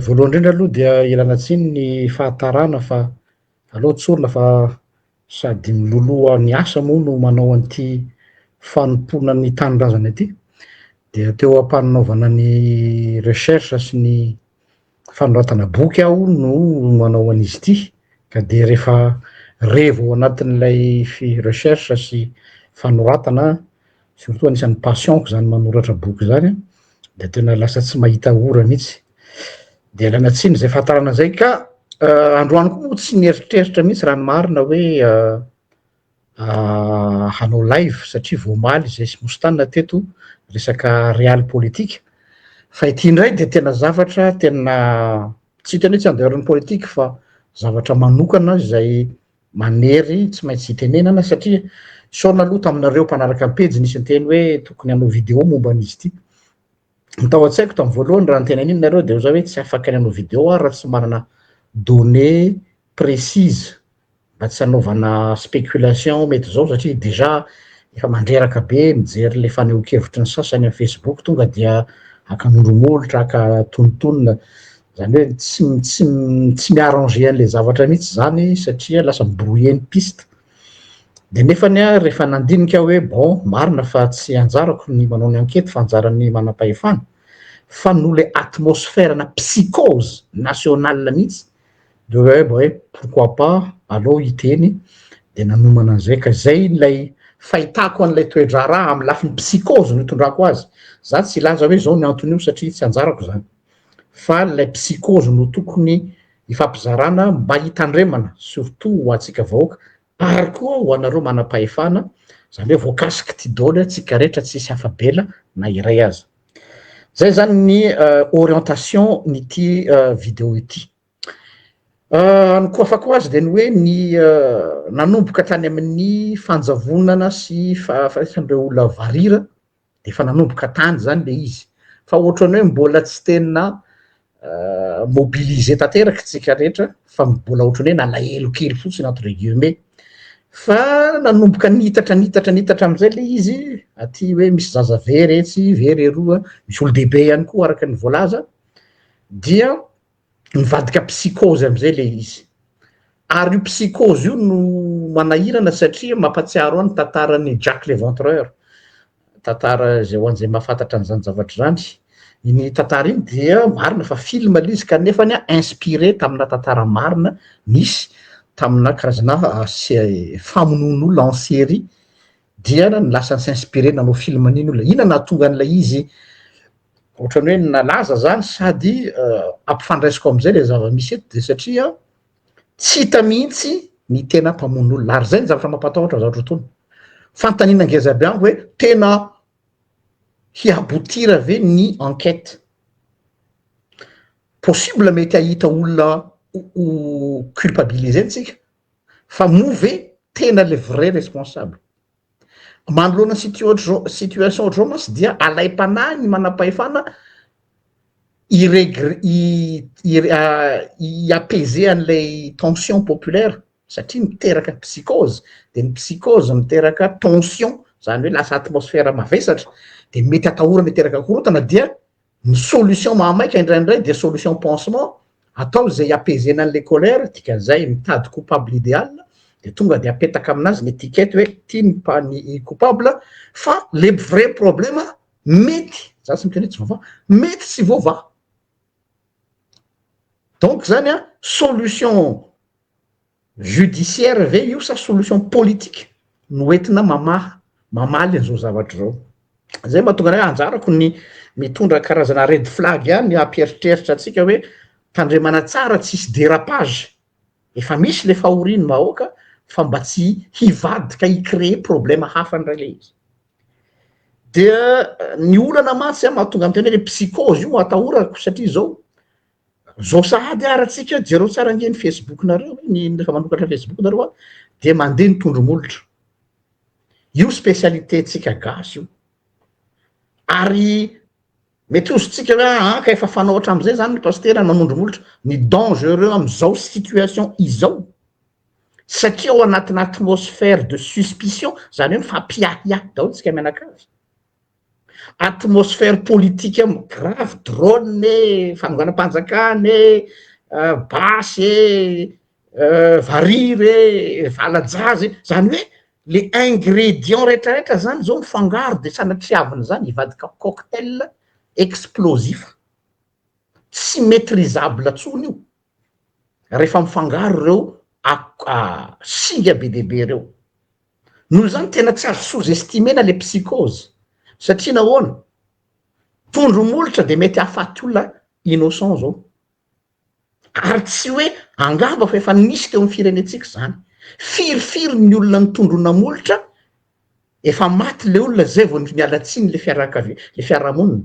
Voalohany indrindra aloha dia ialana tsiny ny fahatarana fa aleo tsorina fa sady miloloha ny asa moa no manao an'ity fanompoana ny tanindrazana ity, dia teo am-panaovana ny recherche sy ny fanoratana boky aho no manao an'izy ity ka dia rehefa revo ao anatin'ilay fi- recherche sy fanoratana surtout anisan'ny passion-ko izany manoratra boky izany dia tena lasa tsy mahita ora mihitsy dia alaina tsiny izay fahatarana izay ka euh, androany koa tsy nieritreritra mihitsy raha ny marina hoe euh, euh, hanao live satria voamaly izay sy mostana teto resaka real politika fa ity indray dia tena zavatra tena tsy tena hoe tsy andeharan'ny politika fa zavatra manokana izay Manery tsy maintsy itenenana satria sao naloa taminareo mpanaraka ny pejy nisy niteny hoe tokony hanao video momba an'izy ity. Ny tao an-tsaiko tamin'ny voalohany raha niteny an'iny nareo dia oza hoe tsy afaka ny hanao video aho raha tsy manana données précises mba tsy hanaovana spéculation mety izao satria déjà efa mandreraka be mijery le fanehoan-kevitry ny sasany amin'ny Facebook tonga dia haka mongomolotra, haka tonontonona Zany hoe tsy tsy tsy mi-arranger an'ilay zavatra mihitsy zany satria lasa mi-brouiller ny piste. De nefany a rehefa nandinika aho hoe bon marina fa tsy anjarako ny manao ny enquête fa anjaran'ny manam-pahefana fa noho le atmosphère-na psychose nationale mihitsy de hoe aho mba hoe pourquoi pas aleo hiteny de nanomana an'zay ka zay ilay fahitako an'ilay toe-draharaha amin'ny lafiny psychose no itondrako azy, za tsy hilaza hoe zao ny anton'io satria tsy anjarako zany. fa ilay psychose no tokony hifampizarana mba hitandremana surtout ho antsika vahoaka ary koa ho anareo manam-pahefana izany hoe voakasiky ty doly antsika rehetra tsisy afa-bela na iray aza zay zany ny euh, orientation ny ty euh, video ity euh, ny koafako azy dia ny hoe ny nanomboka tany amin'ny fanjavonana sy fahafasan'ireo olona varira dia efa nanomboka tany izany ilay izy. Fa ohatran'ny hoe mbola tsy tena mobiliser tanteraka isika rehetra fa mbola ohatran'ny hoe nalahelo kely fotsiny entre guillemets fa nanomboka nitatra nitatra nitatra amin'izay ilay izy aty hoe misy zaza very etsy very eroa misy olo-dehibe ihany koa araka ny voalaza dia mivadika psychose amizay le izy ary io psychose io no manahirana satria mampatsiaro any tantarany jack le ventreur tantara zay ho an'izay mahafantatra an'izany zavatra zany iny tantara iny dia marina fa film le izy kanefa ny a inspiré tamina tantara marina nisy tamina karazana ah, se- famonoan'olona en série dia ny lasany s'inspirer nanao film an'iny olona ina nahatonga an'ilay izy ohatrany hoe nalaza zany sady ampifandraisiko amizay le zava-misy eto de satria tsy hita mihitsy ny tena mpamono olona ary zay ny zavatra mampatahotra za otrotony fantanina ngeza aby ango hoe tena hiabotira ve ny enquete possible mety hahita olona ho culpabiliser ntsika fa moa ve tena le vrai responsable Manoloana situation ohatr'izao mantsy dia alaim-panahy ny manam-pahefana hi-apaiser an'ilay tension populaire satria miteraka psychose, dia ny psychose miteraka tension, izany hoe lasa atmosphère mavesatra, dia mety atahorana hiteraka korontana dia Ny solution mahamaika indraindray dia solution pansement, atao izay hiapaiser-na an'ilay colère, dikan'izay mitady coupable idéal dia tonga dia apetaka amin'azy ny étiquette hoe ity ny pa- ny i coupable fa le vrai problème mety, za tsy miteny hoe tsy voavaha, mety tsy voavaha. Donc zany an, solution Judiciaire ve io sa solution politique no entina mamaha, mamaly an'izao zavatra izao? Izay mahatonga anay anjarako ny mitondra karazana red flag ihany hampieritreritra antsika hoe tandremana tsara tsisy dérapage, efa misy le fahorian'ny vahoaka fa mba tsy hivadika hi-créer problème hafa indray le izy. Dia ny olana mantsy mahatonga miteny hoe le psychose io atahorako satria izao, Zao sahady ara tsika jereo tsara ange ny facebook nareo ny refa manokatra facebook nareo a de mandeha ny tondro molotra io specialité tsika gasy io ary mety ozotsika hoe aa ah, ka efa fanao hatramizay zany ny pastera manondro molotra ny dangereux amizao situation izao satria ao anatina atmosphère de suspicion zany hoe mifampiahiahy daolo tsika mianakavy Atmosphère politique mo grave drone e, fanonganam-panjakana e, basy e, varira e, vala-jaza e, zany hoe le ingrédients rehetra rehetra zany zao mifangaro de sanatriavina zany hivadika cocktail explosif, tsy maitrisable tsony io. rehefa mifangaro ireo singa be dia be ireo, noho izany tena tsy azo sous estimer-na le psychose satria nahoana? tondro molotra de mety hahafaty olona innocent zao ary tsy hoe angamba fa efa nisy teo amin'ny firenentsika izany, firy firy ny olona ny tondro namolotra efa maty le olona zay vao niala tsiny le fiarakavia le fiarahamonina.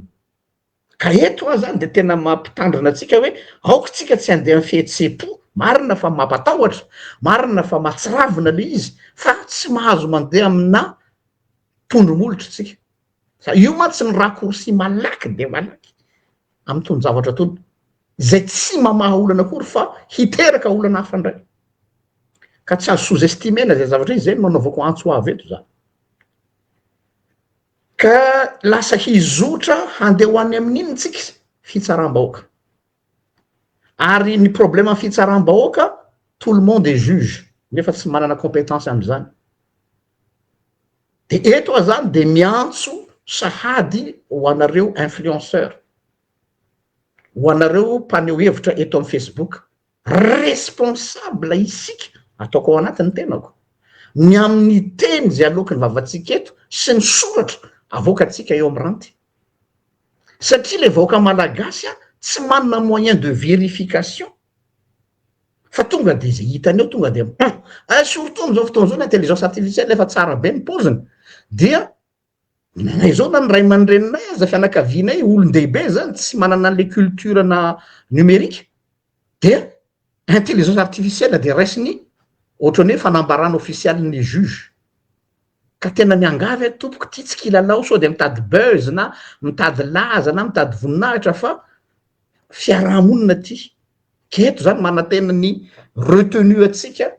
Ka eto aza dia tena mampitandrina antsika hoe aoka isika tsy handeha amin'ny fihetseham-po, marina fa mampatahotra, marina fa mahatsiravina ilay izy fa tsy mahazo mandeha aminà tondro molotra isika, fa io mantsy ny raccourci malaky dia malaky amin'itony zavatra itony, izay tsy mamaha olana akory fa hiteraka olana hafa indray, ka tsy azo sous-estimer-na izay zavatra izay, izay no nanaovako antso avo eto izany. Ka lasa hizotra handeha ho any amin'ny inona isika? Fitsaram-bahoaka. Ary ny problème ny fitsaram-bahoaka, tout le monde est juge, nefa tsy manana compétence amin'izany. Dia eto aho izany dia miantso sahady ho anareo influenceurs, ho anareo mpaneho hevitra eto amin'ny Facebook, Responsable isika, ataoko ao anaty ny tenako, ny amin'ny teny izay aloaky ny vavantsika eto sy ny soratra avoakantsika eo amin'ny ranty. Satria ilay vahoaka malagasy tsy manana moyen de vérification fa tonga dia izay hitany eo tonga dia mipao. Surtout amin'izao fotoana izao ny intelligence artificielle efa tsara be ny paoziny dia. Nanay zao na ny ray aman-dreninay aza fianakavianay olon-dehibe zany tsy manana an'le culture na numerique dia intelligence artificielle dia raisiny ohatran'ny hoe fanambarana official ny juge ka tena miangavy aho tompoko ity tsy kilalao sao dia mitady buzz na mitady laza na mitady voninahitra fa fiarahamonina ity ka eto zany manantena ny retenu antsika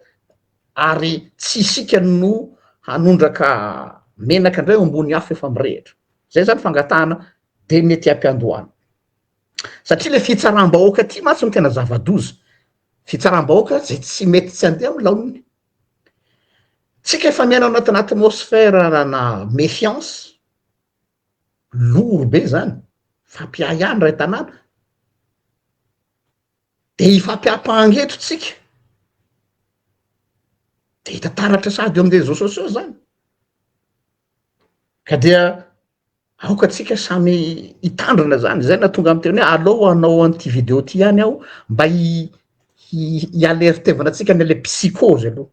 ary tsy isika no hanondraka menaka indray ao ambony afo efa mirehitra. Izay izany fangatahana dia mety hampiandohana. Satria ilay fitsaram-bahoaka ity mantsy no tena zava-doza. Fitsaram-bahoaka izay tsy mety tsy handeha amin'ny laoniny. Tsika efa miaina ao anatin'ny atmosphère na méfiance, loro be izany, fampiahiana iray tanàna, Dia ifampiampanga eto tsika, dia hita taratra sady eo amin'ny réseaux sociaux zany, ka dia aoka tsika samy hitandrina zany, zay nahatonga ahy niteny hoe aleo hanao an'ity video ty ihany aho mba hi-hi-hi-hi-alertevana antsika any le psychose aloha.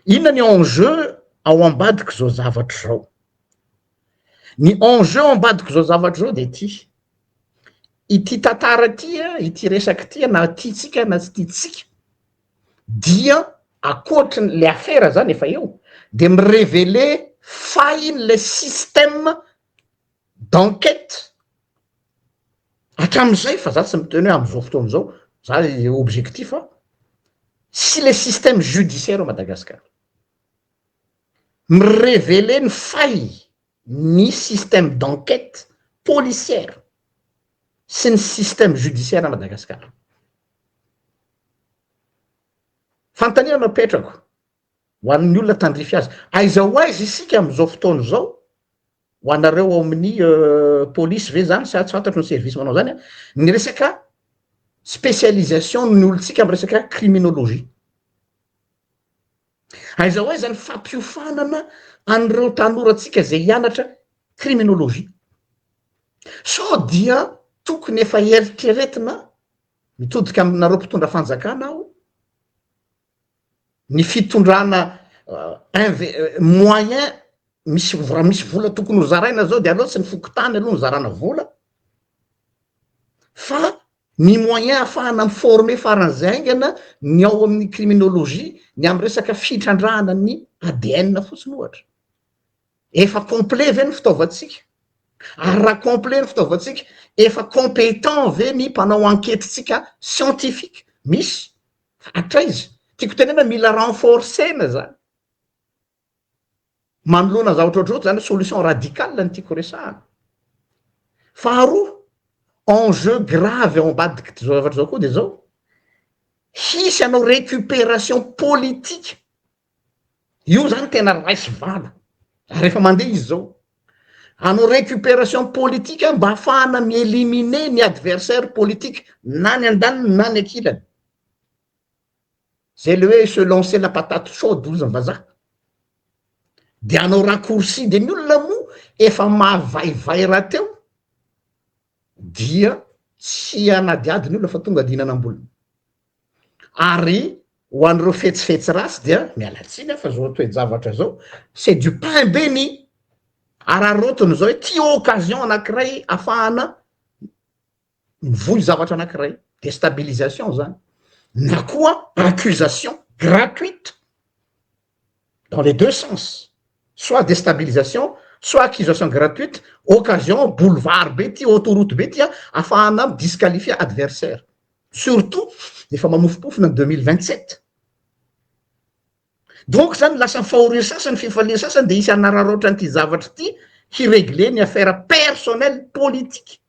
Inona ny enjeu ao ambadik'izao zavatra izao? Ny enjeu ao ambadik'izao zavatra izao dia ity, ity tantara ity, ity resaka ity na tiantsika na tsy tiantsika dia ankoatry ny le afera izany efa eo dia mi-reveler fahin'ilay système. d'enquête hatramin'izay fa za tsy miteny hoe am'zao fotoana zao za le objectif a sy le système judiciaire ao Madagascar mi-reveler ny faille ny système d'enquête policière sy ny système judiciaire Madagascar fanontaniana no apetrako Ho an'ny olona tandrify azy. Aiza ho aiza isika amin'izao fotoana izao? Ho anareo ao amin'ny polisy ve izany sa tsy fantatro ny service manao izany an? Ny resaka spécialisation ny olontsika amin'ny resaka criminologie. Aiza ho aiza ny fampiofanana an'ireo tanorantsika izay hianatra criminologie? Sao dia tokony efa eritreretina mitodika aminareo mpitondra fanjakana aho ny fitondrana moyen misy raha misy vola tokony ho zaraina zao de aleo tsy ny fokontany aloha ny zarana vola fa ny moyen ahafahana miformer faran'izay haingana ny ao amin'ny criminologie ny amin'ny resaka fitrandrahana ny ADN fotsiny ohatra efa complet ve ny fitaovantsika ary raha complet ny fitaovantsika efa compétent ve ny mpanao enquete-tsika scientifique misy Hatraiza? Tiako tenena mila renforcer-na zany. Manoloana zavatra ohatr'izao zany solution radicale no tiako resahana. Faharoa, enjeu grave ao ambadik'ity zavatra izao koa dia izao, hisy anao récupération politique Io zany tena ray sy vava. Ary efa mandeha izy zao. Hanao récupération politique aho mba hahafahana mi-éliminer ny adversaire politique na ny andaniny na ny ankilany. Zay le hoe se lancer la patate chaude hozy ny vazaha. De hanao raccourci de ny olona moa efa mahavaivay rahateo. dia tsy hanadihady ny olona fa tonga dia hihinana am-bolony. Ary ho an'ireo fetsifetsy ratsy dia miala tsiny aho fa izao toe-javatra izao, c'est du pain béni, araraotiny izao hoe ity occasion anankiray ahafahana mivoy zavatra anankiray, destabilisation izany, na koa accusation gratuite. dans les deux sens soit destabilisation soit accusation gratuite occasion boulevard be ty autoroute be ty a afahana mi disqualifier adversaire surtout efa mamofompofona ny deux mille vingt sept donc zany lasa ny fahorian'ny sasany fifalian'ny sasany dia hisy hanararaotra an'ity zavatra ity hiregler ny affaire personnel politique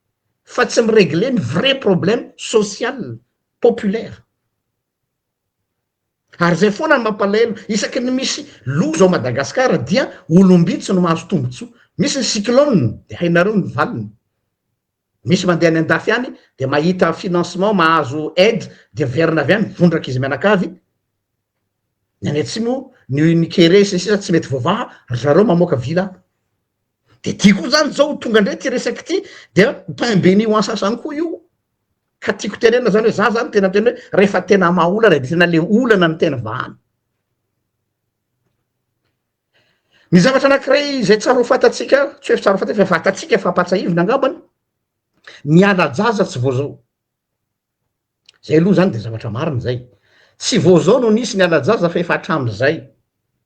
fa tsy miregler ny vrai problème social populaire Ary izay foana no mampalahelo, isaky ny misy loza ao Madagasikara dia olom-bitsy no mahazo tombontsoa. Misy ny cyclone dia hainareo ny valiny. Misy mandeha any an-dafy any dia mahita financement, mahazo aide dia miverina avy any vondraka izy mianakavy. Ny any atsimo, ny Unikere sy ny sisa tsy mety voavaha, ry zareo mamoaka villa. de ty koa zany zao tonga ndray ty resaky ity dia pain beni ho an sasany koa io ka tiako tenenina zany hoe za zany tena tena hoe rehefa tena maha olana de tena le olana ny tena vahana ny zavatra anakiray izay tsara ho fantatsika tsy hoe fitsara ho fantatsika fa fantatsika fa ampatsahivina angambany ny ala-jaza tsy voazao Zay aloha zany de zavatra marina zay. Tsy vao zao no nisy ny alajaza fa efa hatramzay.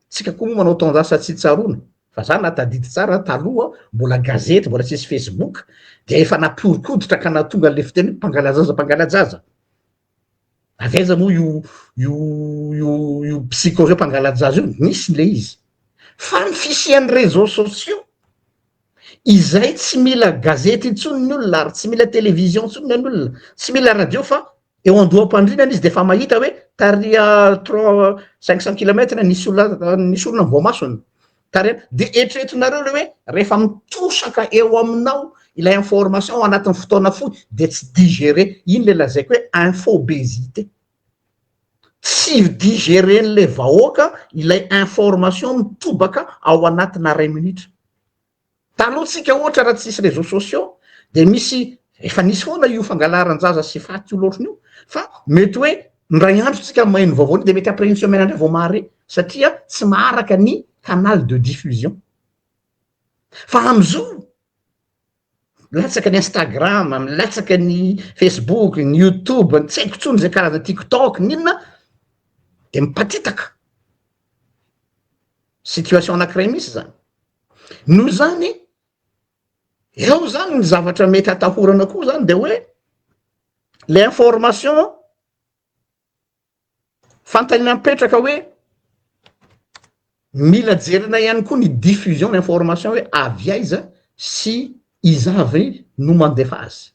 Tsika koa moa manao taonjasa tsy tsaroana. Fa za na tadidy tsara taloha mbola gazety mbola tsisy facebook de efa nampihorokoditra ka nahatonga anle fiteny hoe mpangalajaza mpangalajaza. Avy aiza moa io io io io psychose hoe mpangalajaza io? Nisy le izy. Fa ny fisian'ny reseaux sociaux Izay tsy mila gazety intsony ny olona ary tsy mila television intsony ny olona, tsy mila radio fa eo andoham-pandrinana izy dia efa mahita hoe tarehy trois cinq cent kilomètre ny sola ny sorona ny voamasony tarehy dia eritreretinareo le hoe rehefa mitosaka eo aminao ilay information ao anatin'ny fotoana fohy dia tsy digérer, iny le lazaiko hoe infobésité. tsy ho digeren'ilay vahoaka ilay information mitobaka ao anatina iray minitra. Taloha tsika ohatra raha tsisy réseaux sociaux dia misy efa nisy foana io fangalaran-jaza sy faty io loatra io fa mety hoe indray andro tsika maheno vaovao dia mety après une semaine indray vao mahare satria tsy maharaka ny canal de diffusion. Fa amzao milatsaka ny Instagram, milatsaka ny Facebook, ny YouTube, ny tsy haiko intsony zay karazana TikTok n'inona de mipatitaka, situation anankiray mihitsy zany, noho izany eo zany ny zavatra mety hatahorana koa zany de hoe le information. Fantany nampetraka hoe mila jerena ihany koa ny diffusion d'information hoe avy aiza sy iza avy no mandefa azy.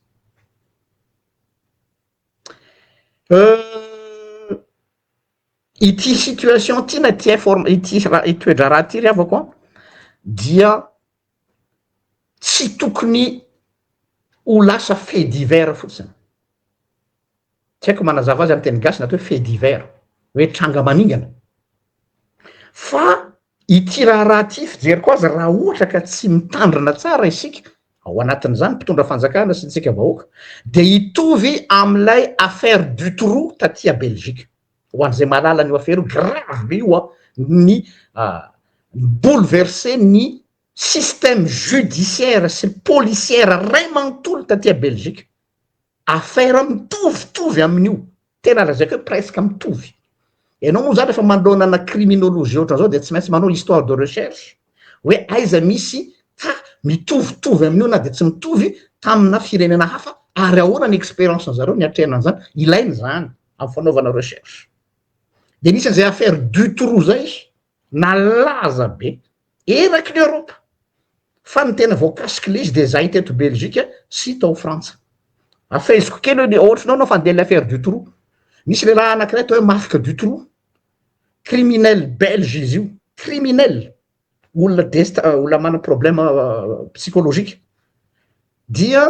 Ity situation ity na ity informa- ity ra- ity toe-draharaha ity ry havako an dia tsy tokony ho lasa fait divers fotsiny, tsy haiko manazava azy amin'ny teny gasy ny atao hoe fait divers, hoe tranga maningana, fa ity raharaha ity fijeriko azy raha ohatra ka tsy mitandrina tsara isika ao anatin'izany mpitondra fanjakana sy ny tsika vahoaka dia hitovy amin'ilay affaire Dutroux taty à Belgique. ho an'izay mahalala an'io afera io, grave be io an, ny mi-bouleverser ny système judiciaire sy policière ray manontolo taty à Belgique, afera mitovitovy amin'io, tena lazaiko hoe presque mitovy, ianao moa zany rehefa manoloana ana criminologie ohatran'izao dia tsy maintsy manao histoire de recherche hoe aiza misy cas mitovitovy amin'io na dia tsy mitovy tamina firenena hafa ary ahoana ny expérience-n'ny zareo niatrehana an'izany, ilaina izany. am fanaovana recherche de nisy an'izay affaire Dutroux zay nalaza be eraky ny Europe fa ny tena voakasiky le izy de zay teto Belgique sy tao Frantsa afahiziko kely hoe le ohatrinao nao fandeha le affaire Dutroux nisy lehilahy anakiray atao hoe Marc Dutroux criminel belge izy io criminel olona dest olona manana problème psychologique dia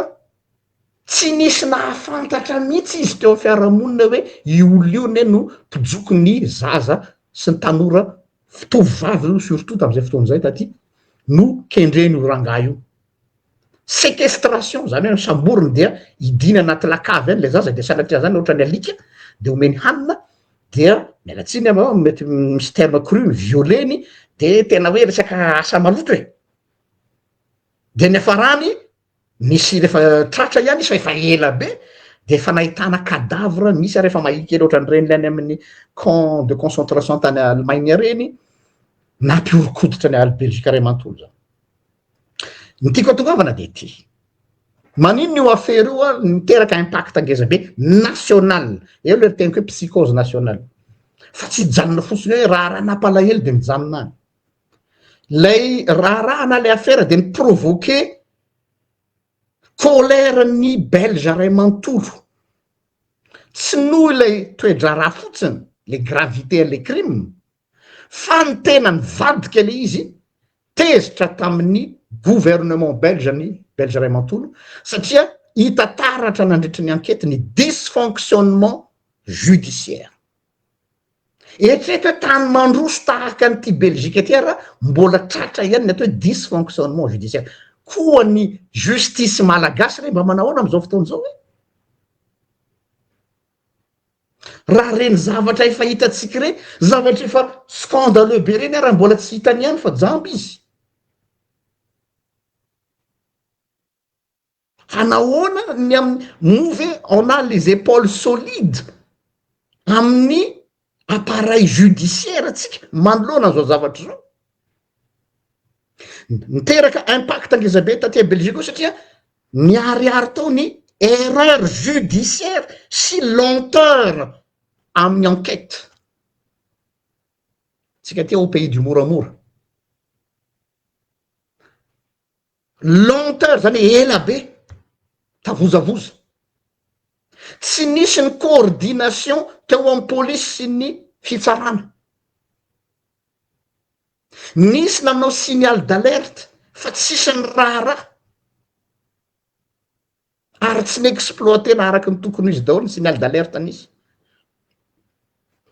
tsy nisy nahafantatra mihitsy izy teo fiarahamonina hoe i olona io ne no mpijoko ny zaza sy ny tanora fitovy vavy io surtout tamin'izay fotoana izay taty no kendreny io rangahy io Sequestration, zany hoe samboriny dia hidiana anaty lakavy any le zaza dia sanatria zany ohatrany alika dia omeny hanina dia miala tsiny aho an, mety misy terme cru ny violer-ny dia tena hoe resaka asa maloto e! dia niafarany nisy rehefa tratra ihany izy fa efa ela be dia efa nahitana cadavre misy ary efa mahia kely ohatran'ireny le any amin'ny camp de concentration tany Allemagne ireny nampihoron-koditra ny aly Belgique iray manontolo zany. Ny tiako atongavana dia ity. Maninona io affaire io a miteraka impact ngeza be national. Eo le teniko hoe psychose national. Fa tsy hijanona fotsiny hoe raharaha nampalahelo dia mijanona any. Lay raharaha na le affaire dia mi-provoquer colère ny belge ray manontolo. Tsy noho ilay toe-draharaha fotsiny, le gravité an'le crime Fa ny tena nivadika ilay izy, tezitra tamin'ny gouvernement belge ny Belge iray manontolo satria hita taratra nandritry ny ankety ny dysfonctionnement judiciaire. Eritrereto hoe tany mandroso tahaka an'ity Belgique ity ara mbola tratra ihany ny atao hoe dysfonctionnement judiciaire. Koa ny justice malagasy re mba manao ahoana amin'izao fotoana izao e? Raha ireny zavatra efa hitantsika ireny, zavatra efa scandaleux be ireny ary mbola tsy hitany ihany fa jamba izy. Fa nahoana ny amin'ny, moa ve on a les epaules solides amin'ny appareil judiciaire ntsika manoloana an'izao zavatra izao. Niteraka impact ngeza be taty Belgique koa satria niharihary tao ny erreur judiciaire sy lenteur amin'ny enquête. Tsika aty au pays du moramora. Longtemps zany hoe ela be, tavozavoza. Tsy nisy ny coordination teo amin'ny polisy sy ny fitsarana. Nisy nanao signal d'alerte fa tsisy ny raharaha ary tsy n'exploiter-na araka ny tokony ho izy daholo ny signal d'alerte nisy.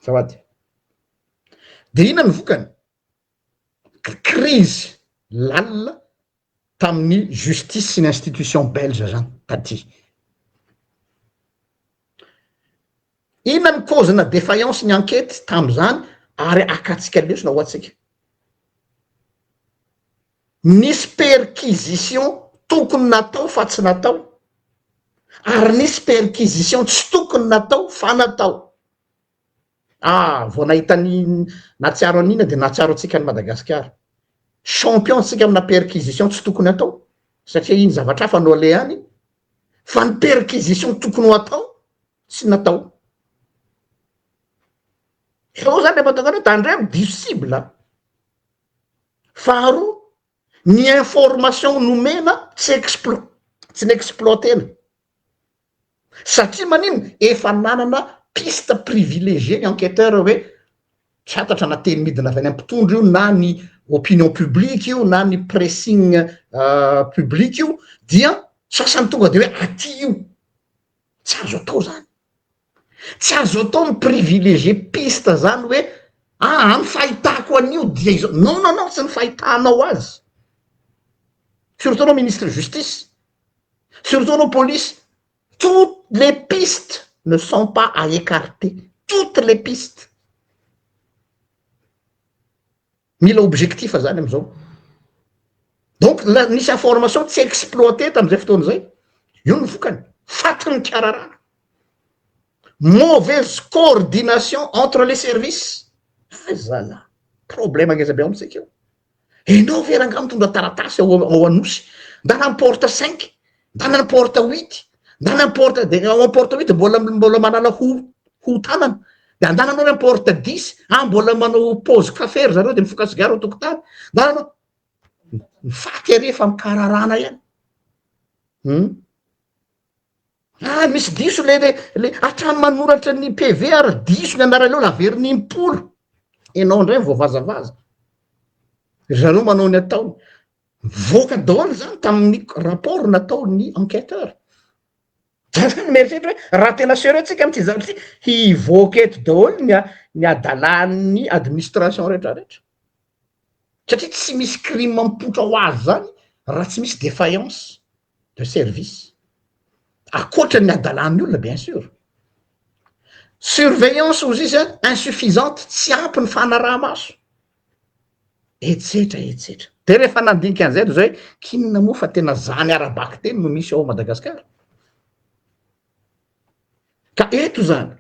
Azafady. De inona ny vokany? krizy lalina tamin'ny justice sy ny institution belge zany taty. Inona ny cause na defaillance ny ankety tamin'izany ary akatsika lesona ho antsika? Nisy perquisition tokony natao fa tsy natao ary nisy perquisition tsy tokony natao fa natao. Ah vao nahita ny nahatsiaro an'ina dia nahatsiaro antsika an'i Madagasikara. Champion tsika amina perquisition tsy tokony atao satria iny zavatra hafa no alehany fa ny perquisition tokony ho atao tsy natao. Zao zany le mahatonga anao tandremo diso cible. Faharoa ny information nomena tsy explo tsy ny exploiter-na satria manino efa nanana piste privilegier ny enqueteur hoe tsy fantatra na teny midina avy any amin'ny mpitondra io na ny opinion publique io na ny pressing publique io dia sasany tonga de hoe aty io tsy azo atao zany Tsy azo atao mi privilégier piste zany hoe aa ny fahitako an'io dia izao, non non non tsy ny fahitanao azy, surtout anao ministre justice, surtout anao police, toutes les pistes ne sont pas à ecarter, toutes les pistes. Mila objectif zany amizao. Donc nisy information tsy exploiter tamizay fotoana zay. Io ny vokany. Faty ny kararana. Mauvaise coordination entre les services. Azala. Problème ngeza be amitsika io. Enao ve rangah mitondra taratasy ao Anosy. Ndana am porte 5. na n'importe huit na n'importe de ao importe huit mbola mbola manala ho ho tanana de andananao importe dix a mbola manao pause café ry zareo de mifoka sigara ao tokotany andananao mifaty ary efa mikararana ihany hum ah misy diso le le le hatrany manoratra ny pv ary diso ny anaraleo laverina impolo ianao indray voavazavaza ry zareo manao ny ataony Nivoaka daholo izany tamin'ny rapport nataon'ny enquêteur. Zany zany mieritreritra hoe raha tena sérieux tsika amin'ity zavatra ity, hivoaka eto daholo ny ny hadalan'ny administration rehetra rehetra. Satria tsy misy crime mipoitra ho azy zany raha tsy misy défaillance. de service akoatra ny adalan'ny olona bien sur surveillance ozy izy an insuffisante tsy ampy ny fanarahamaso etsetra etsetra de rehefa nandinika an'izay de zao hoe kinina moa fa tena zany ara-bakiteny no misy ao madagasikara ka eto zany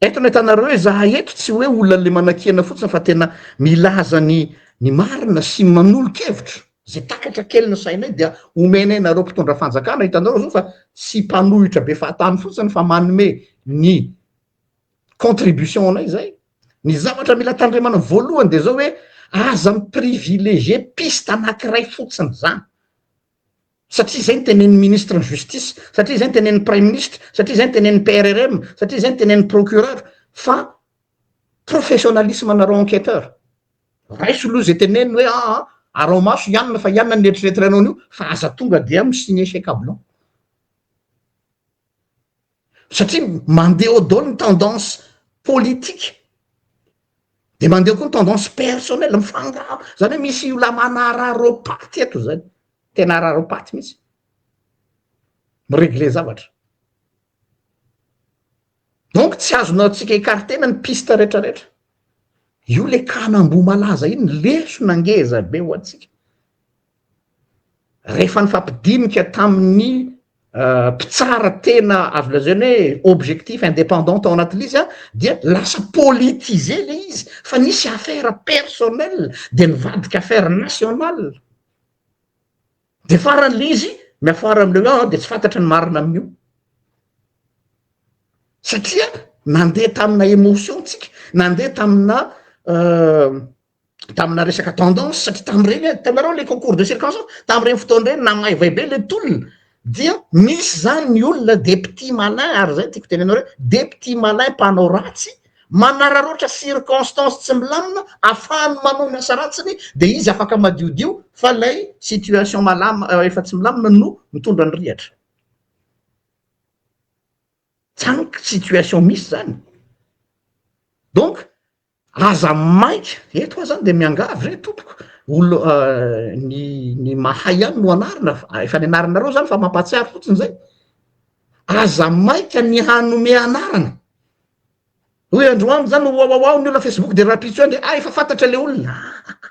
Eto no ahitanareo hoe zahay eto tsy hoe olona le manakiana fotsiny fa tena milaza ny ny marina sy manolo-kevitra ze takatra kely ny sainay dia omenay nareo mpitondra fanjakana hitanareo zao fa tsy mpanohitra be fahatany fotsiny fa manome ny contribution anay zay ny zavatra mila tandremana voalohany de zao hoe aza mi-privilegier piste anakiray fotsiny zany satria izay no tenenin'ny ministre ny justice, satria izay no tenenin'ny praiminisitra, satria izay no tenenin'ny PRRM, satria izay no tenenin'ny procureur fa professionnalisme anareo enquêteur raiso aloha izay teneniny hoe aa ah, ah, arao maso ianina fa ianina ny eritreritranao an'io fa aza tonga dia mi signer chez cablan satria mandeha eo daholo ny tendance politique de mandeha koa ny tendance personnel mifangaro zany hoe misy io lamana araropaty eto zany tena araropaty mihitsy miregle zavatra donc tsy azonao tsika ikartena ny piste retraretra io le kanamboa malaza iny lesona ngezabe ho antsika Rehefa nifampidinika tamin'ny mpitsara tena azo lazaina hoe objectif, indépendant tao anatin'ilay izy an, dia lasa politiser ilay izy fa nisy affaire personnelle dia nivadika affaire nationale, dia faran'ilay izy miafara amin'ilay hoe an dia tsy fantatra ny marina amin'io satria nandeha tamina émotion tsika, nandeha tamina. tamina resaka tendance satria tamin'ireny hitanareo le concours de circonstance tamin'ireny fotoana ireny namaivay be le tolona dia misy zany ny olona de petit malin ary zay tiako tenenao hoe de petit malin mpanao ratsy manararaotra circonstance tsy milamina afahany manao ny asa ratsiny de izy afaka madiodio fa lay situation malama euh, efa tsy milamina no mitondra ny rihatra tsaniko situation misy zany donc Aza maika, eto aza dia miangavy re tompoko, olo ny mahay ihany no anarina, efa ny anaranareo zany fa mampahatsiaro fotsiny zay, aza maika ny hanome anarana, hoy andry wang zany, wawawaw ny olona facebook dia rahampitso ihany dia ah efa fantatra le olona, ahh.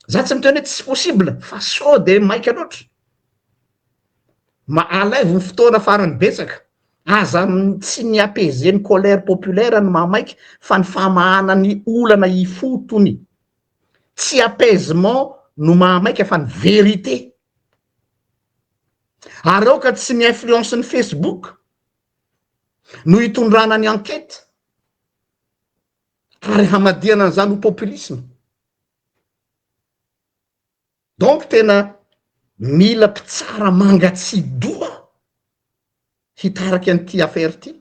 Za tsy miteny hoe tsy possible fa sao de maika loatra. Mba alaivo ny fotoana farany betsaka, aza tsy ny apaiser ny colère populaire no mahamaika fa ny famahana ny olana ifotony. Tsy apaisement no mahamaika fa ny vérité. Ary aoka tsy ny influence ny Facebook no hitondrana ny enquête ary hamadihana an'izany ho populisme. Donc tena mila mpitsara mangatsiadoha hitarika an'ity affaire ity,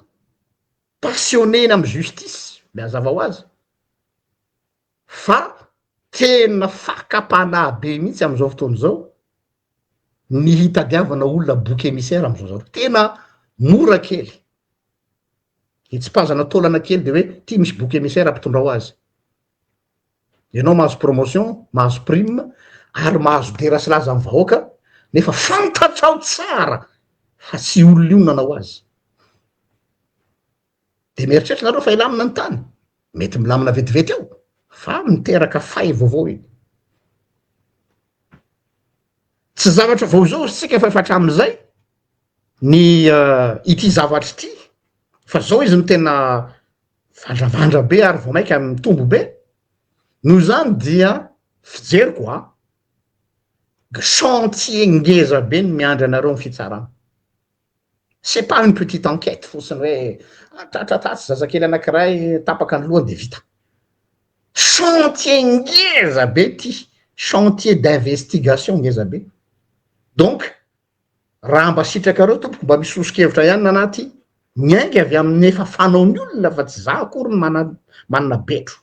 passionné-ny amin'ny justice le hazava ho azy fa tena fakam-panahy be mihitsy amin'izao fotoana izao ny hitadiavana olona bouc émissaire amin'izao zavatra, tena mora kely, hitsipazana taolana kely de hoe ity misy bouc émissaire mpitondra ho azy. ianao mahazo promotion mahazo prime ary mahazo dera sy laza ny vahoaka nefa fantatrao tsara fa tsy olona io nanao azy de mieritreritra nareo fa hilamina ny tany mety milamina vetivety eo fa miteraka fay vaovao iny tsy zavatra vao izao sika fa efa hatramin'izay ny eh, ity zavatra ity fa zao izy no tena Vandravandra be ary vao mainka mitombo be. Noho izany dia fijeriko a, chantier ngeza be no miandry anareo amin'ny fitsarana. C'est pas une petite enquête fotsiny hoe ah, tratra tatsy zazakely anankiray tapaka ny lohany dia vita. Chantier ngeza be ity, chantier d'investigation ngeza be. Donc, raha mba sitrakareo tompoko mba misy sosokevitra ihany nanaty miainga avy amin'ny efa fanaon'ny olona fa tsy za akory ny mana manana betro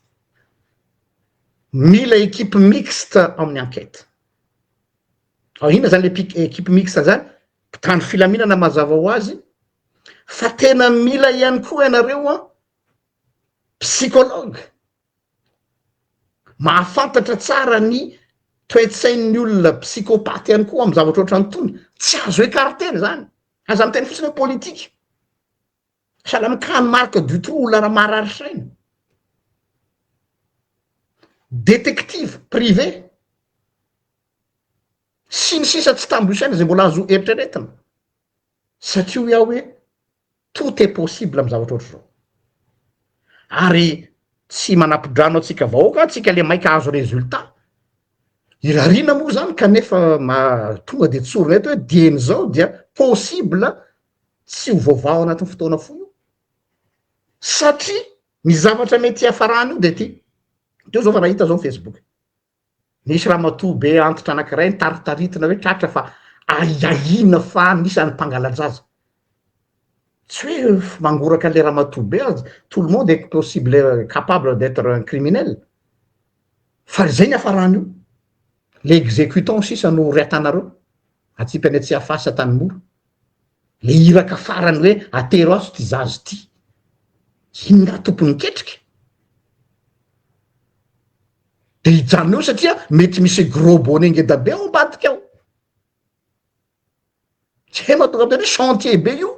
mila ekipe mixte amin'ny enquête ao inona zany le pic- ekipe mixte zany mpitandro filaminana mazava ho azy fa tena mila ihany koa ianareo a psychologue Mahafantatra tsara ny toe-tsain'ny olona psychopathe ihany koa amin'ny zavatra ohatran'ny tony. Tsy azo ecarter izany. Aza miteny fotsiny hoe politika. Sahala amin'ny cas-n'i Marc Dutroux, olona raha marary saina. Détective privé. Sy ny sisa tsy tambo isaina izay mbola azo eritreretina. Satria hoy aho hoe Tout est possible am zavatra ohatr'izao. Ary tsy manapidrano antsika vahoaka, antsika le maika ahazo résultat. Irariana moa zany kanefa tonga de tsorina eto hoe dieny zao dia possible tsy ho voavaha anatin'ny fotoana fohy io. Satria ny zavatra mety hiafarany io de ty. Teo zao fa nahita zao am Facebook. Nisy ramatoa be antitra anankiray nitaritaritina hoe tratra fa ahiahiana fa anisan'ny mpangala-jaza. Tsy hoe mangoraka an'ilay ramatoa be aza, tout le monde est possible, capable d'etre un criminel. Fa izay ny hafarany io. Ilay exécutant sisa no rehatanareo, atsipy any Tsiafahy sy Antanimora. Le iraka farany hoe atero aso ty zazo ty. Ino nga tompony ketrika? De hijanona eo satria mety misy gros bonnet ngeda be ao ambadika ao. Zay mahatonga an'tena hoe chantier be io.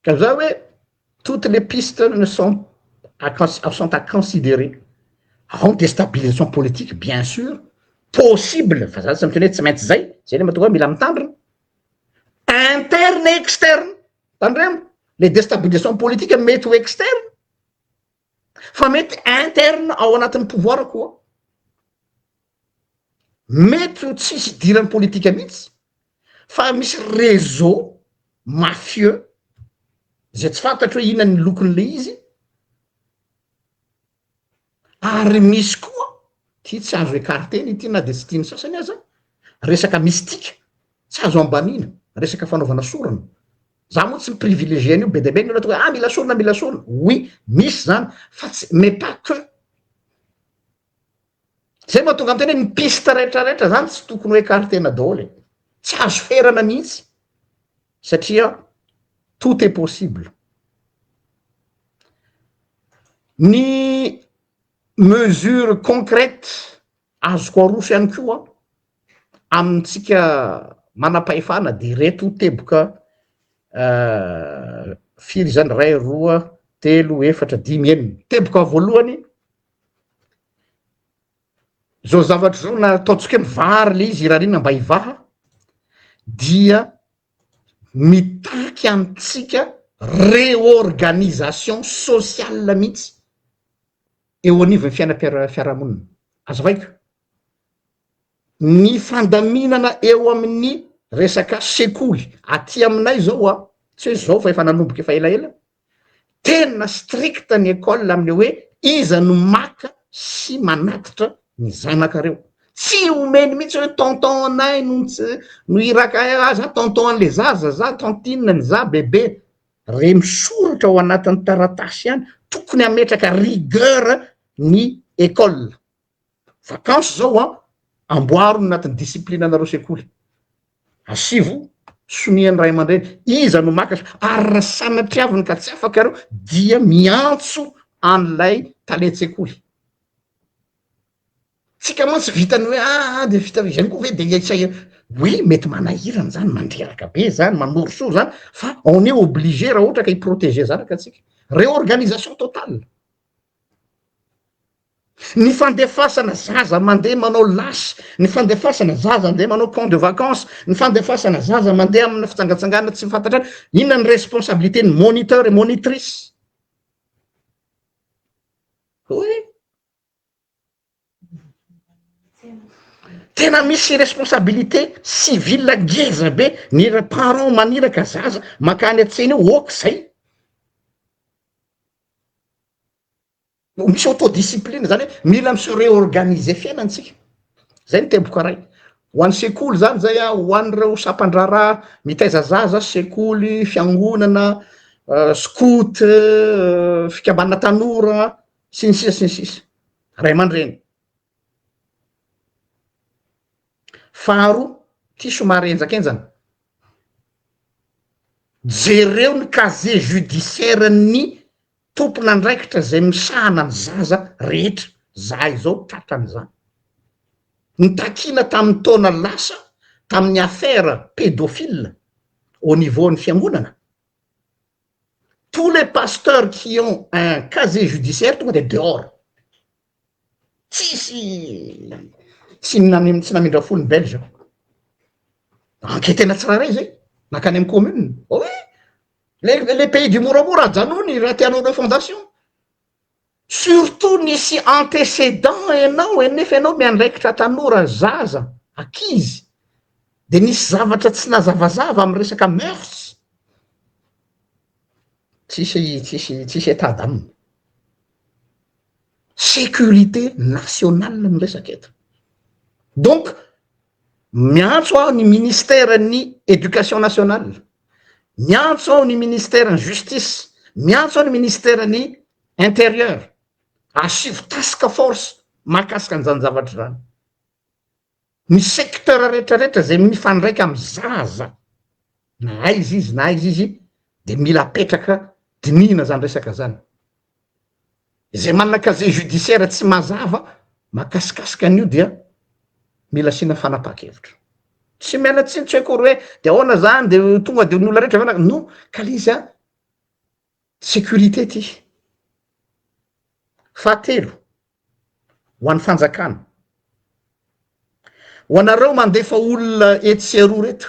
Ka za hoe toutes les pistes ne sont sont à considerer, ao ny destabilisation politique bien sur, possible fa za tsy miteny hoe tsy maintsy zay, zay le mahatonga ahy mila mitandrina, interne et externe, tandremo, le destabilisation politique mety ho externe, fa mety interne ao anatin'ny pouvoir koa, mety ho tsisy idiran'ny politika mihitsy fa misy réseau mafieux izay tsy fantatro hoe inona ny lokon'ilay izy ary misy koa ity tsy azo écarter-na ity na dia tsy tian'ny sasany aza, resaka mystique tsy azo ambaniana, resaka fanaovana sorona za moa tsy mi-privilégier an'io be dia be ny olona tonga hoe ah mila sorona mila sorona oui misy zany fa tsy mais pas que zay mahatonga an-tena hoe ny piste rehetra rehetra zany tsy tokony ho écarter-na daholo e tsy azo ferana mihitsy satria tout est possible ny mesure concrète Azoko aroso ihany koa amintsika manam-pahefana dia ireto teboka firy izany, iray, roa, telo, efatra, dimy, enina. Teboka voalohany, izao zavatra izao na ataontsika hoe mivary ilay izy irariana mba hivaha dia mitaky antsika réorganisation sociale mihitsy eo anivon'ny fiainam-piarahamonina. Azavaiko, ny fandaminana eo amin'ny resaka sekoly aty aminay zao a, tsy hoe zao fa efa nanomboka efa elaela, tena stricte ny école amin'ny hoe iza no maka sy manatitra ny zanakareo, tsy omeny mihitsy hoe tonton anay no iraka ahy, ah za tonton an'le zaza, za tantine ny za bebe, Re misoratra ao anatin'ny taratasy ihany, tokony hametraka rigueur ny école. Vacances izao an, amboaro ny anatin'ny discipline-nareo sekoly. Asivo sonia ny ray aman-dreny, iza no maka sonia, ary raha sanatria avy ny ka tsy afaka ianareo dia miantso an'ilay talen-tsekoly. Tsika mantsy vita ny hoe aa de vita zany koa ve de ia isaia oui mety manahirana zany mandreraka be zany manorisory zany fa on est obligé raha ohatra ka hi-proteger zanaka tsika réorganisation totale ny fandefasana zaza mandeha manao lasy ny fandefasana zaza ndeha manao camp de vacance ny fandefasana zaza mandeha amina fitsangatsangana tsy fantatra any inona ny responsabilité ny moniteur et monitrice oe Tena misy responsabilité civile ngeza be ny parents maniraka zaza makany an-tsena eo ok zay, misy auto discipline zany hoe mila mi se reorganiser fiainantsika zay ny teboko aray, ho an'ny sekoly zany zay an, ho an'ireo sampan-draharaha mitaiza zaza, sekoly, fiangonana, scout, fikambanana tanora. sy ny sisa sy ny sisa ray aman-dreny faharoa ty somary enjakenjana jereo ny casier judiciaire ny tompon'andraikitra zay misahana ny zaza rehetra za izao tratra an'izany nitakiana tamin'ny taona lasa tamin'ny affaire pédophile au niveau ny fiangonana Tous les pasteurs qui ont un casier judiciaire tonga dia dehors. Tsisy tsy tsy namindra fo ny belge. Enquêtena tsirairay izay, nankany amin'ny commune. Oui, les, les pays du moramora ajanony raha tianao le fondation. Surtout nisy antécédent enao e nefa enao miandraikitra tanora, zaza, ankizy de nisy zavatra tsy nazavazava am resaka mœurs, tsisy tsisy tsisy état d'ame. Sécurité nationale no resaka eto. Donc Miantso aho ny ministeran'ny Education nationale, miantso aho ny ministeran'ny Justice, miantso aho ny ministeran'ny Intérieur, asivo task force mahakasika an'izany zavatra izany. Ny secteur rehetrarehetra izay mifandraika amin'ny zaza, na aiza izy na aiza izy dia mila apetraka, dinihina izany resaka izany. Izay manana casier judiciaire tsy mazava makasikasika an'io dia mila asiana fanapahan-kevitra. Tsy miala tsiny, tsy haiko akory hoe dia ahoana izany, dia tonga dia ny olona rehetra ve na-, non, kale izy an, sécurité ity. Fahatelo, ho an'ny fanjakana, ho anareo mandefa olona etsy sy eroa ireto,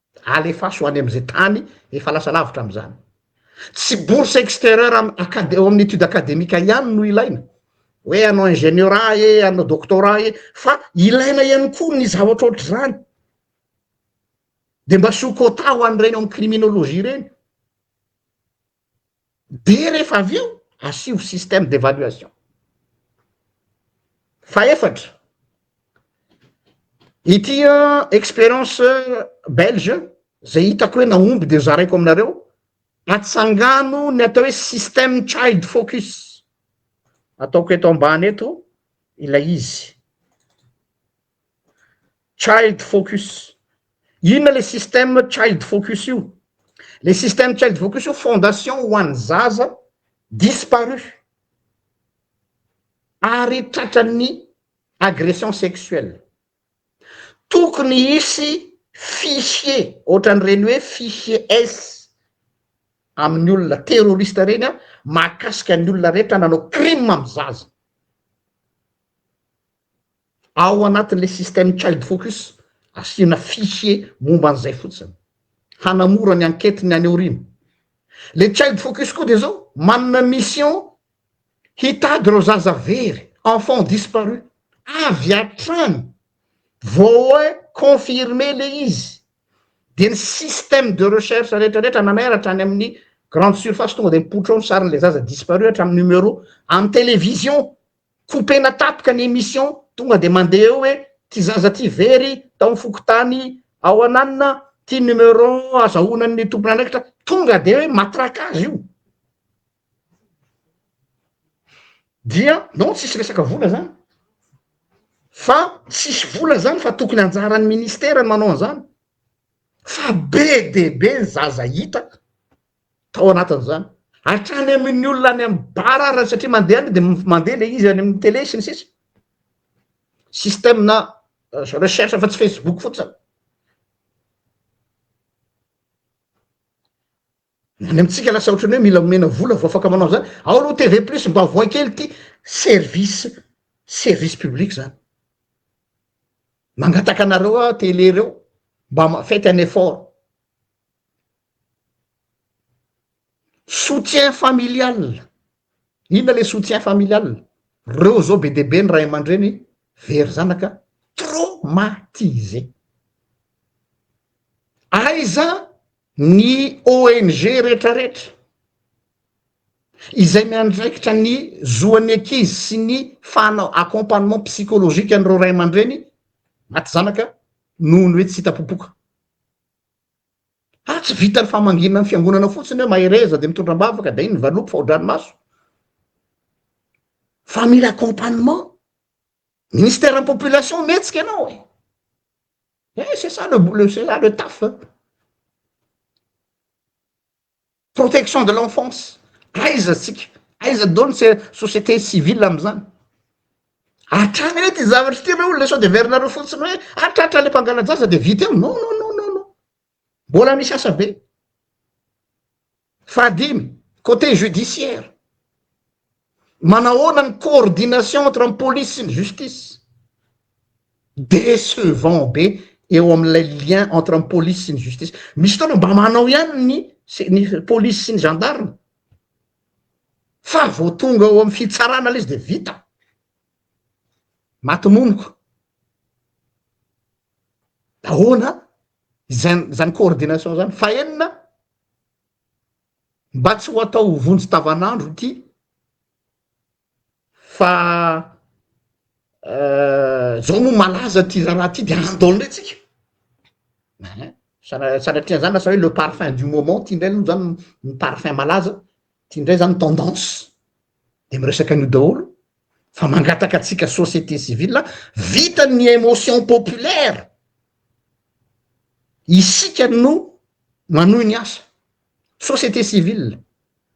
alefaso any amin'izay tany efa lasa lavitra amin'izany. Tsy bourse extérieure am- acad- eo amin'ny étude académique ihany no ilaina, hoe hanao ingénieur ee, hanao doctorat ee, fa ilaina ihany koa ny zavatra ohatr'izany. Dia mba asio quota ho an'ireny ao amin'ny criminologie ireny. dia rehefa avy eo asio système d'évaluation. Fahefatra, ity expérience belge izay hitako hoe nahomby dia zaraiko aminareo, atsangano ny atao hoe système child focus, ataoko eto ambany eto ilay izy. Child focus, inona le système child focus io? Le système child focus io fondation ho an'ny zaza disparu ary tratran'ny agression sexuelle, tokony hisy fichier ohatran'ireny hoe fichier S amin'ny olona terroriste ireny mahakasika ny olona rehetra nanao crime amin'ny zaza. ao anatin'ilay système Child Focus, asiana fichier momba an'izay fotsiny, hanamora ny enquête ny any aoriana. Ilay Child Focus koa dia izao, manana mission hitady ireo zaza very, enfants disparus, avy hatrany vao hoe confirmer ilay izy, dia ny système de recherche rehetra rehetra nanairatra any amin'ny grande surface tonga dia mipoitra ao ny sarin'ilay zaza disparu hatramin'ny numéro amin'ny télévision Coupena tapaka ny emission tonga de mandeha eo hoe ty zaza ty very tao fokontany ao ananona ty numéro azahoana ny tompon'andraikitra tonga de hoe matraque azy io dia non tsisy resaka vola zany fa tsisy vola zany fa tokony anjaran'ny ministera ny manao an'zany fa be de be ny zaza hita tao anatin'izany hatrany amin'ny olona any amin'ny bar ary satria mandeha any dia mandeha ilay izy any amin'ny télé sy ny sisa système-na recherche fa tsy facebook fotsiny ny any amintsika lasa ohatran'ny hoe mila omena vola vao afaka manao an'izany ao aloha TV plus mba avohay kely ity service service public zany mangataka anareo aho télé reo mba mafety any effort Soutien familial, inona le soutien familial? Reo zao be dia be ny ray aman-dreny very zanaka traumatisé. Aiza ny ONG retraretra izay miandraikitra ny zoan'ny ankizy sy ny fanao accompagnement psychologique an'ireo ray aman-dreny maty zanaka noho ny hoe tsy hita popoka. Fa tsy vitan'ny famangiana ny fiangonana fotsiny hoe mahereza dia mitondra am-bavaka dia iny ny valopy fa ho-dranomaso. Fa mila accompagnement. Ministère ny population mihetsika ianao e. Eh c'est ça le c'est ça le taf. Protection de l'enfance aiza tsika aiza do ny société civile amzany hatrany re ty zavatra ty re olona sao de verinareo fotsiny hoe hatratra le mpangalajaza de vita eo non non non non non mbola misy asa be fahadimy coté judiciaire Manahoana ny coordination entre ny police sy ny justice? Decevant be eo amin'ilay lien entre ny police sy ny justice. Misy fotoana mba manao ihany ny ny police sy ny gendarme fa vao tonga ao amin'ny fitsarana ilay izy dia vita. Maty moniko. Ahoana izany izany coordination izany? Fahenina, Mba tsy ho atao ho vonjy tavan'andro ity fa zao moa malaza ty raharaha ty de handao ndray tsika ein sanatria zany lasa hoe le parfum du moment ty ndray aloha zany ny parfum malaza ty ndray zany tendance de miresaka an'io daholo fa mangataka atsika société civile vita ny émotion populaire isika no manohy ny asa société civile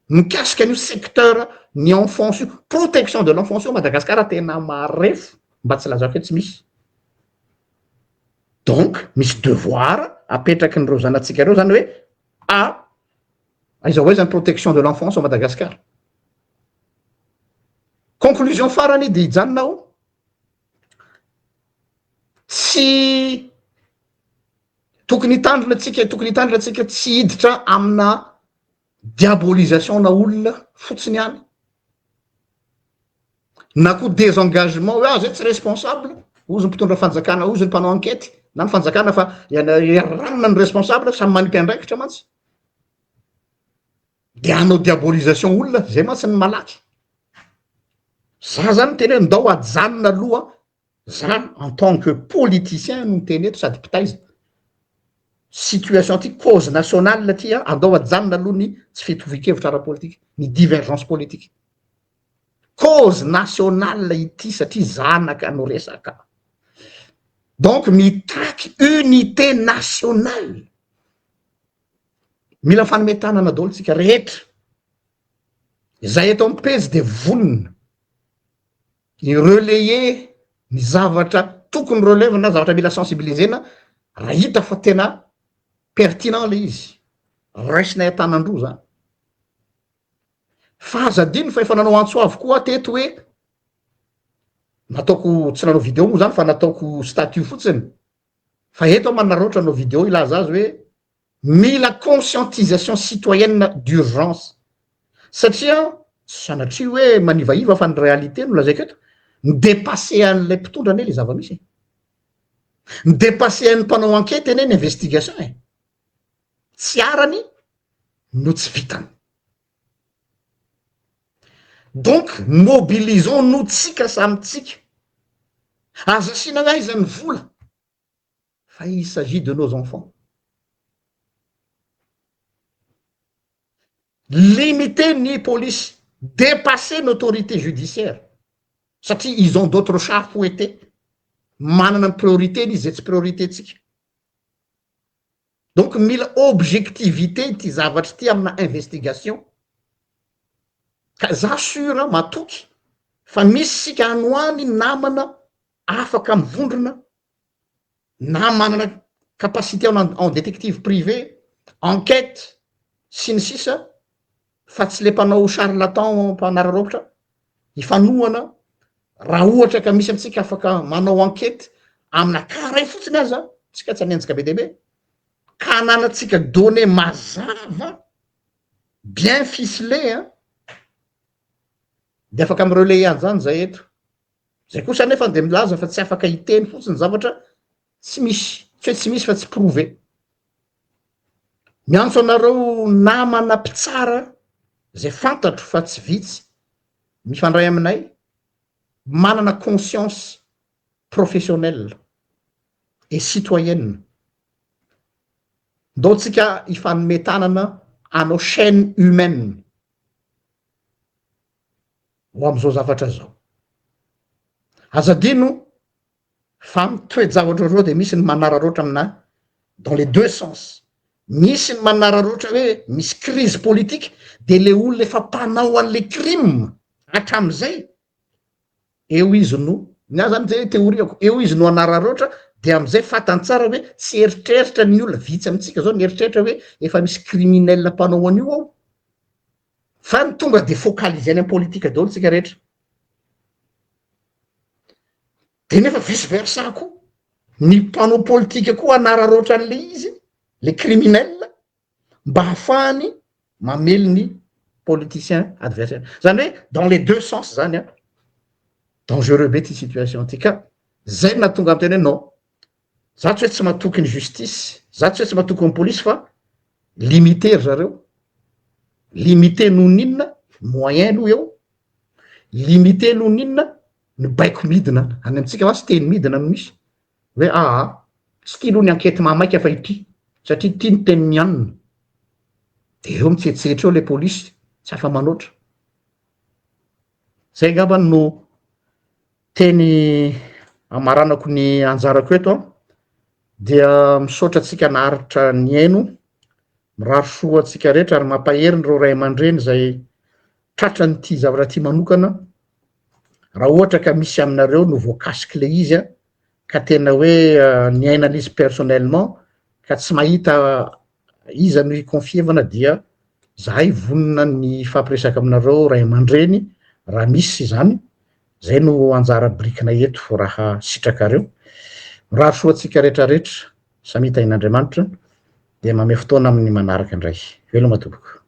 mikasika an'io secteur ny enfance io protection de l'enfance io Madagascar tena marefo mba tsy lazako hoe tsy misy donc misy devoir apetraky ny reo zanatsika reo zany hoe a aiza ho aiza ny protection de l'enfance ao Madagascar conclusion farany dia hijanona aho tsy Tokony hitandrina antsika, tokony hitandrina antsika tsy hiditra amina diabolisation na olona fotsiny ihany. Na koa désengagement hoe ah zay tsy responsable, hozy ny mpitondra fanjakana, hozy ny mpanao enquête na ny fanjakana fa ranona ny responsable samy manipy andraikitra mantsy. Dia hanao diabolisation olona, zay mantsy ny malaky. Za zany miteny hoe ndao ajanona aloha Za en tant que politicien no miteny eto sady mpitaiza situation ty, cause nationale ty an, andao ajanona aloha ny tsy fitovian-kevitra ara-politika, ny divergence politique. Cause nationale ity satria zanaka no resaka. Donc mitaky unité nationale. Mila fanome tanana daholo tsika rehetra. Izay eto amin'ny pejy dia vonona I relayer ny zavatra tokony relève na zavatra mila sensibiliser-na raha hita fa tena pertinent le izy, raisinay an-tanan-droa zany. Fa aza adino fa efa nanao antso avo koa aho teto hoe, nataoko tsy nanao video moa zany fa nataoko statut fotsiny, fa eto aho manararaotra hanao video hilaza azy hoe Mila conscientisation citoyenne d'urgence satria sanatria hoe manivaiva fa ny réalité no lazaiko eto, mi-depasser an'ilay mpitondra anie le zava-misy e! Mi-depasser an'ny mpanao ankety anie ny investigation e! Tsy arany no tsy vitany. Donc mobilisons nous tsika samy tsika. Aza asiana aiza ny vola. Fa il s'agit de nos enfants. Limiter ny polisy, depasser ny autorité judiciaire satria ils ont d'autres chats à fouetter, manana ny priorité-ny izy izay tsy priorité-tsika. Donc mila objectivité ity zavatra ity amina investigation ka za sur an matoky fa misy isika any ho any namana afaka mivondrona na manana capacité en détective privé, enquête sy ny sisa fa tsy le mpanao charlatan mpanararaotra hifanohana raha ohatra ka misy antsika afaka manao enquête amina cas ray fotsiny aza tsika tsy hanenjika be dia be ka ananatsika données mazava bien ficelé an dia afaka mi-relayer an'izany zay eto Zay kosa anefa dia milaza fa tsy afaka hiteny fotsiny zavatra tsy misy, tsy hoe tsy misy fa tsy prouver. Miantso anareo namana mpitsara zay fantatro fa tsy vitsy mifandray aminay manana conscience professionnelle et citoyenne. Ndao tsika hifanome tanana hanao chaine humaine. ho amin'izao zavatra zao. Aza adino fa amin'ny toe-javatra ohatr'izao dia misy ny manararaotra amina dans les deux sens. Misy ny manararaotra hoe misy crise politique dia le olona efa mpanao an'le crime hatramin'izay eo izy no, ny ahy zany zay théorie-ko, eo izy no hanararaotra dia amin'izay fantany tsara hoe tsy eritreritra ny olona, vitsy amintsika zao ny eritreritra hoe efa misy criminel mpanao an'io ao. Fa ny tonga dia focaliser any am politika daholo tsika rehetra. Dia nefa vice versa koa, ny mpanao politika koa hanararaotra an'le izy, le criminel, mba hahafahany mamely ny politicien adversaire. Zany hoe dans les deux sens zany an, dangereux be ty situation ty ka, zay no nahatonga aho niteny hoe non, Za tsy hoe tsy matoky ny justice, za tsy hoe tsy matoky ny police fa limité ry zareo, limité noho ny inona? Moyen aloha eo, limité noho ny inona? Ny baiko midina any amintsika mantsy teny midina no misy hoe aa tsy tia aloha ny ankety mahamaika fa ity satria tia ny tenin'ny anona, de ireo mitsetsetra eo ilay police tsy afa-manoatra. Zay angambany no teny amaranako ny anjarako eto an dia misaotra antsika naharitra nihaino mirary soa antsika rehetra ary mampahery ireo ray aman-dreny izay tratra n'ity zavatra ity manokana raha ohatra ka misy aminareo no voakasiky le izy a ka tena hoe niaina l'izy personnellement ka tsy mahita iza no hikonfievana dia zahay vonona ny hifampiresaka aminareo ray aman-dreny raha misy izany, zay no anjara birikinay eto raha sitrakareo. Mirary soa antsika rehetrarehetra, samia tahin'Andriamanitra, dia mamehy fotoana amin'ny manaraka indray. Veloma tompoko.